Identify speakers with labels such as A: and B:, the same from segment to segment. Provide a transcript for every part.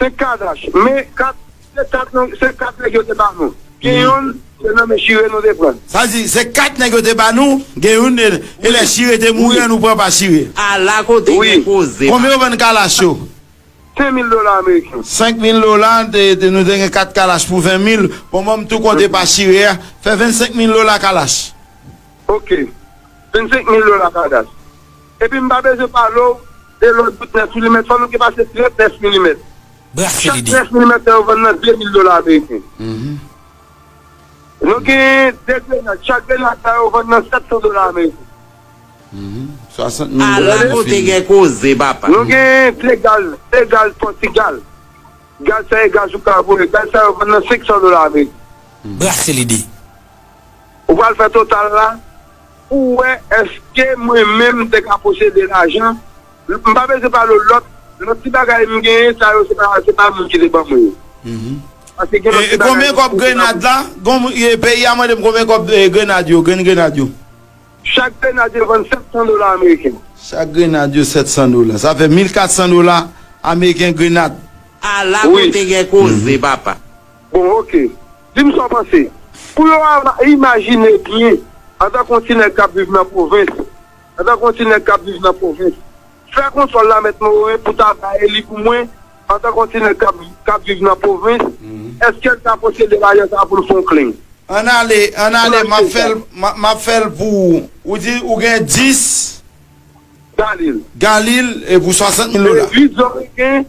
A: Se
B: kadash men kat se kat nan se kat nèg yo te ba nou gen youn se nan men chire nou te prann. Sa vle di se kat nèg
A: yo te ba nou gen youn e lè chire te mouri an nou pran pa chire. A la kote gen
C: koze papa. Konbyen yo vann kalash
A: yo? 5 mil
B: dola ameriken. 5 mil dola
A: nou te gen kat kalash pou 20 mil bon banm tou konte pa chire a fè 25 mil dola kalash. Ok 25
B: mil dola kadash. Epi m pa bezwen pale w de lòt bout 9 milimèt, fò nou gen pase 30 9 milimèt. Chak 9 milimèt sa yo vann nan 2 mil dola ameriken. Nou gen 2 grenad, chak grenad sa yo vann nan 700 dola ameriken.
A: A la kote gen
C: koze papa! Nou gen 2
B: gaz, 2 gaz Pòtigal. Gaz sa e gaz ou kabure. Gaz sa yo vann nan 500 dola ameriken.
D: Ou
B: pral fè total la. Ou wè eske mwen menm m te ka posede lajan, m pa bezwen pale w lòt lòt ti bagay m genyen sa yo se pa se pa moun ki te ban mwen yo.
A: Paske gen lòt ti bagay m te gen nan bouch. Peyi a mande m konbyen kòb grenad yo, grenn grenad yo? Chak
B: grenad yo vann 700 dola ameriken. Chak grenad yo
A: 700 dola. Sa fè 1400 dola ameriken grenad. A la
C: kote gen koze papa. Bon ok.
B: Di m sa w panse. Pou yo a imajine byen, antanke yon ti nèg k ap viv nan pwovens, antanke yon ti nèg k ap viv nan pwovens, fè konsòl la, Mèt Morin, pou ta bay li pou mwen, antanke yon ti nèg k ap, k ap viv nan pwovens, èske l ka posede lajan sa a pou l fè yon klin? Ann ale,
A: ann ale, m ap fè l, m ap fè l pou ou. Ou di ou gen dis. Galil. Galil, e pou swasant mil dola. E dis zòreken.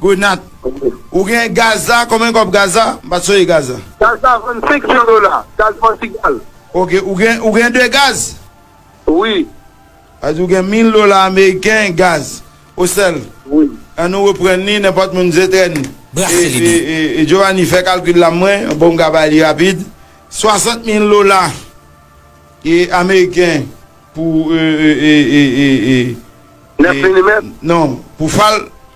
A: Grenat Ou gen gaz la konbyen kob gaz la m pat sonje gaz la. Gaz la vann 5 mil
B: dola gaz pòtigal. Ok ou gen
A: ou gen 2 gaz. Wi.
B: Sa di ou
A: gen 1000 dola ameriken gaz ou sèl. Wi. An nou
B: reprann li
A: nenpòt moun zetrèn. Brase lide. E Jovani fè kalkil la mwen bon m ka bay li rapid 60 mil dola e ameriken pou e e e e e. 9
B: milimèt? Non pou
A: fal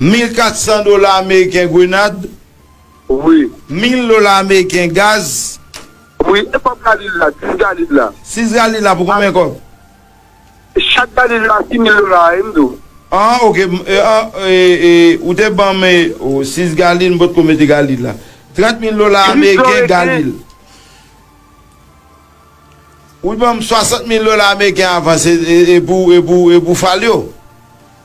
A: Mil 400 dola ameriken grenad. Wi.
B: Mil dola
A: ameriken gaz. Wi. E
B: kòb galil la, 6 galil la? 6 galil la pou konbyen
A: kòb?
B: Chak galil
A: la 6
B: mil dola
A: a, e
B: m di
A: w. An, ok, m, e, an, e, e, ou te ban m, e, o, 6 galil, m pot ko mete galil la. 30 mil dola ameriken galil. Ou te ban m 60 mil dola ameriken avan, se, e, e pou, e pou, e pou fal yo.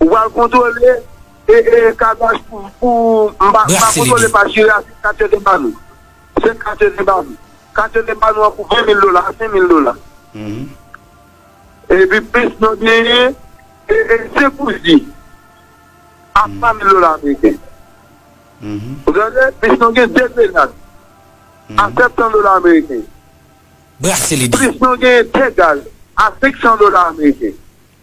B: Ou pral kontrole ee kadash pou m pa kontrole pa chire a se kat yo te banou se kat yo te banou kat yo te banou an pou 20 mil dola a 5 mil dola epi plis nou genyen ee 5 ouzi a 3 mil dola ameriken ou tande plis nou gen 2 grenad a 700 dola ameriken
C: plis nou genyen 2
B: gaz a 500 dola ameriken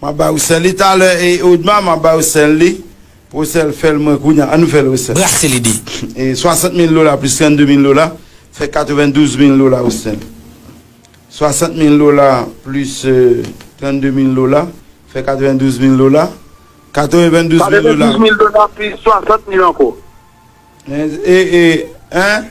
A: Map bay ou sèl li talè e odma map bay ou sèl li pou sèl fèl mwen kounya an nou fèl ou sèl. Brase li di. E 60
C: mil
A: dola plis 32 mil dola fè 92 mil dola ou sèl. 60 mil dola plis 32 mil dola fè 92 mil dola 92 mil dola. 92 mil dola plis
B: 60 mil anko. E e
A: en.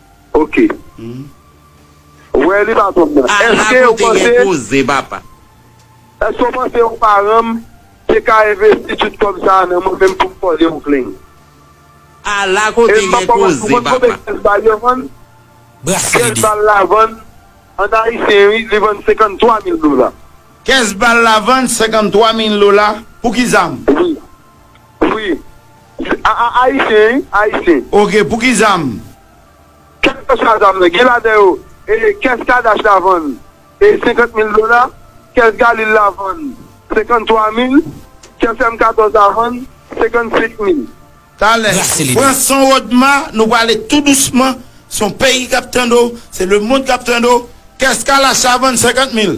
B: Ok. Wè li pa bon nan. Ala kote gen koze papa. Eske w panse yon paranm te ka envesti tut kob sa nan mwen menm poum kole w plen.
C: Ala kote gen koze papa.
B: Bras lide. An ayisyen wi li vann 53 mil dola. Kès bal
A: la vann 53 mil dola pou ki zam?
B: Wi. Se a a ayisyen wi, ayisyen. Ok, pou ki zam? Kèlkeswa zam nan, gen ladan yo e kès Kadash la vann e 50 mil dola, kès Galil la vann 53 mil, kès M14 la vann 55 mil. Talè,
C: pran son Rodma,
A: nou prale tou dousman, son peyi kap tande w, se lemond kap tande w, kès Kalash la vann 50 mil.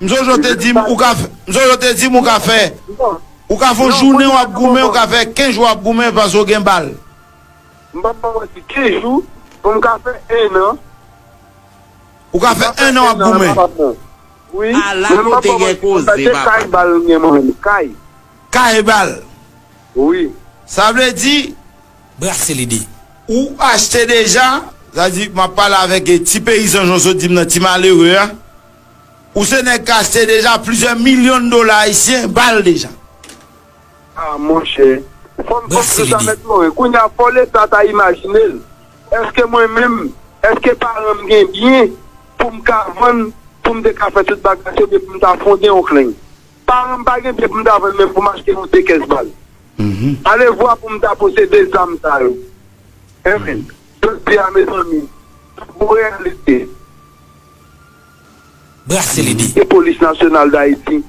A: Mzojo
B: te di m
A: ou ka fè Mzojo te di m ou ka fè Ou ka fon jounen wap goumen ou ka fè 15 jou wap goumen paske ou gen bal. M pap
B: ba w manti 15 jou pou m ka fè 1 an.
A: Ou ka fè 1 an wap goumen. Wi men m
B: pap ba w manti pou m
C: ta se kay bal m gen
B: mwen menm kay. Kay
A: bal. Wi.
B: Sa vle
A: di. Brase lide.
C: Ou achte
A: deja. Sa vle di map pale avèk ti peyizan jan w sot di m nan ti malere a. Ou se nèg kachte deja plizyè milyon dola ayisyen bal deja.
B: Ah monchè fòm fòm konsa mèt morin kounya fò leta ta imajinel eske mwen menm eske paranm gen byen poum ka vann poum te ka fè tout bagay sa oubyen poum ta fonde yon kleng paranm pa gen byen poum ta vann menm poum achte yon de kès bal alevwa poum ta posede zam sa yo humm jodia mezanmi tout bon reyalite.
C: brase lide. E polis nasyonal
B: dayiti?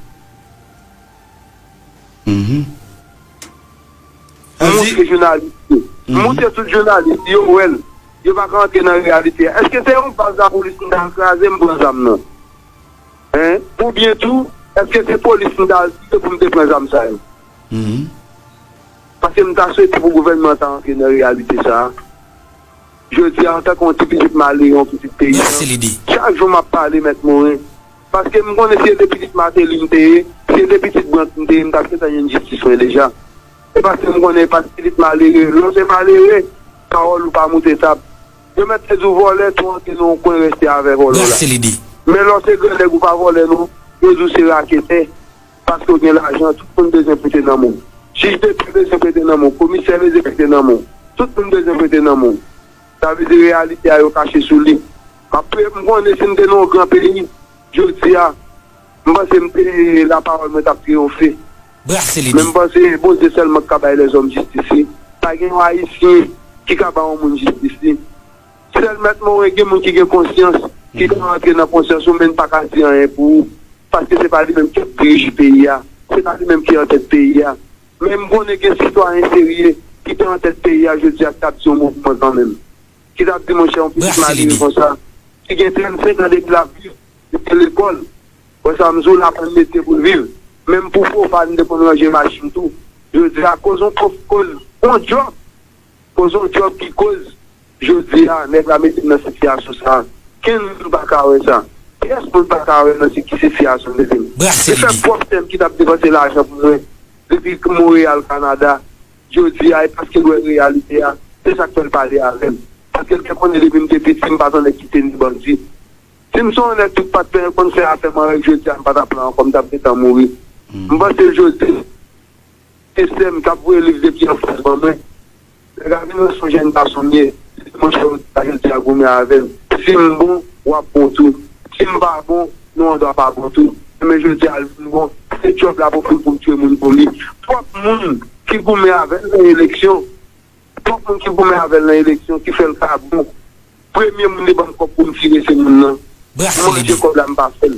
B: Moutre jounalis yo. Moutre tout jounalis yo wè l. Yo pa ka antre nan reyalite a. Eske se yon baz lapolis m ta al kraze m pran zam nan? Oubyen tou, eske se polis m ta al tire pou m te pran zam sa yo? Paske m ta swete pou gouvènman an ta antre nan reyalite sa a. Jodi a, antanke yon ti pitit Mali, yon pitit peyizan, chak jou m ap pale Mèt Morin, paske m konnen si e de pitit Mateli m te ye, si e de pitit Brandt m te ye, m t ap gentan jwenn jistis mwen deja. E paske m konnen e pa ti pitit malere, lè w se malere, pawòl ou pa moute tab. Yo mèt te di w vòlè, tou antre nan yon kwen rèste avè vòlò la. Men lè w se gran nèg ou pa vòlè non, yo di w se raketè. paske w gen lajan tout moun bezwen prete nanm ou jij Depi bezwen prete nanm ou komisè bezwen prete nanm ou tout moun bezwen prete nanm ou sa vle di reyalite a yo kache sou li m ap priye pou m konnen si m te nan yon gran peyi jodi a m panse m te lapawòl mwen t ap triyonfe men m panse Bondye sèlman ki ka bay lèzòm jistis li pa gen yon ayisyen ki ka ba yon moun jistis li. Sèl mèt more gen moun ki gen konsyans ki ka rantre nan konsyans ou menn paka di anyen pou ou paske se pa li menm kap dirije peyi a se pa li menm ki antèt peyi a men m konnen gen sitwayen serye ki te antèt peyi a jodi a ki tap di yon mo pou mwen kanmenm ki tap di monchè yon pitit malere konsa ki gen 35 an depi lap viv li te lekòl wè sa m di w la pou l mete pou l viv menm pou fo fal m te konn ranje machin m tou jodi a koz yon koz yon djòb. Pozo job ki koz jodi a nèg la mete nan sitiyasyon sa a. Kenn moun pa ka wè sa. Pyès moun pa ka wè nan si ki sitiyasyon m mete m. Brase Se lide. pwòp sè m ki t ap depanse lajan pou mwen depi Monreyal, Kanada. Jodi a e paske l wè reyalite a, se sa k fè l pale avè m. Paske l te konnen depi m te piti m pa t anlè kite ni bandi. Si m son onèt tout pa t penyen konn fè afè m anrèg jodi a m pa t ap la ankò m t ap gentan mouri. M panse jodi. Se sèm kap voye liv depi anfas ban mwen. Lè Gavin wè son jèn gason m ye, li di monchè ou ta janti a goumen avè m. Si m bon, wap bon tou. Si m pa bon, nou andwa pa bon tou. Demen jodi a l vin bon, se djòb la pou fè pou m tchwe moun pou li. Twòp moun ki goumen avè l nan eleksyon. Twòp moun ki goumen avè l nan eleksyon ki fè l ka bon. Premye moun li ban m kòb pou m tire se moun nan. M manje kòb la m pa fè l.